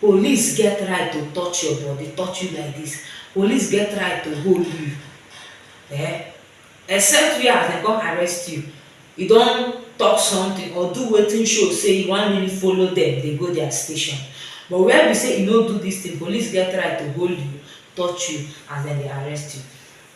Police get right to touch your body, touch you like this, police get right to hold you eh, except where as dem come arrest you, you don talk something or do wetin show say you wan really follow dem dey go their station, but where be say you no do this thing, police get right to hold you, touch you as dem dey arrest you.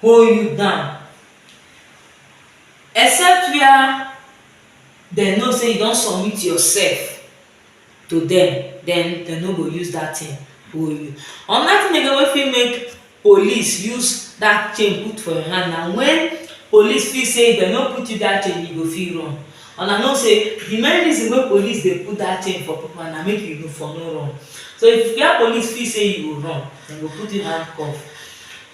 hold you down except where dem know say you don submit yourself to dem then dem no go use that thing hold you. Another thing again wey fit make police use that chain put for your hand na when police feel say if dem no put you that chain you go fit run una know say the main reason wey police dey put that chain for people hand na make you for no run so if where police feel say you go run Dem go put in handcuff.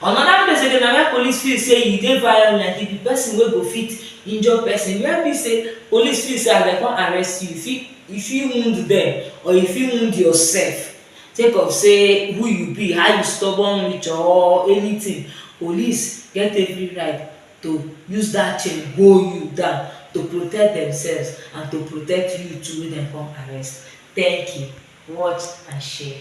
Anoda place again na wia police feel say e dey violent, e be pesin wey go fit injure pesin, wia be say police feel say as dem come arrest you, you fit you fit wound dem or you fit wound yourself sake of say who you be, how you stubborn reach or anytin, police get every right to use dat chain hold you down to protect demsef and to protect you too wey dem come arrest. Thank you, watch and share.